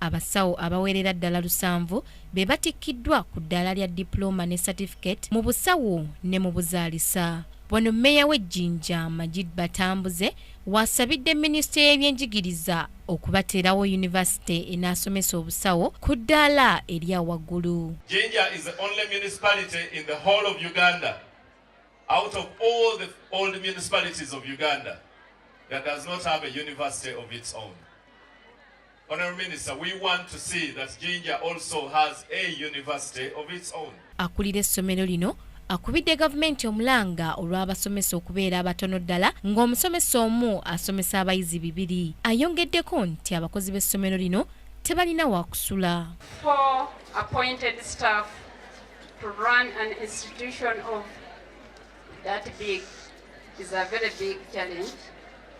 Abasawo abawerera ddala lusanvu be batikkiddwa ku ddaala lya dipulooma ne satifiketi mu busawo ne mu buzaalisa. Wano mmeeya w'e Jinja, Majid Batambuze w'asabidde minisitule y'ebyenjigiriza okubateerawo yunivasite enaasomesa obusawo ku ddaala erya waggulu. Jinja is the only municipality in the whole of Uganda out of all the old municipalities of Uganda that does not have a university of its own. Akulira essomero lino akubidde gavumenti omulanga olw'abasomesa okubeera abatono ddala ng'omusomesa omu asomesa abayizi bibiri ayongeddeko nti abakozi b'essomero lino tebalina wakusula That big is a very big challenge.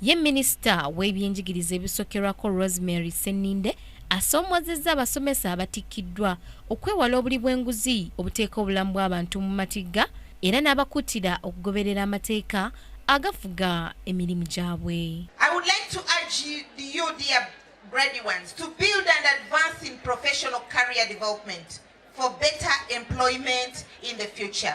Ye minisita w'ebyenjigiriza ebisokerwako Rosemary Seninde asoomozezza abasomesa abatikkiddwa okwewala obuli bw'enguzi obuteeka obulamu bw'abantu mu matigga era n'abakuutira okugoberera amateeka agafuga emirimu gyabwe. I would like to urge you, dear ready ones to build and advance in professional career development for better employment in the future.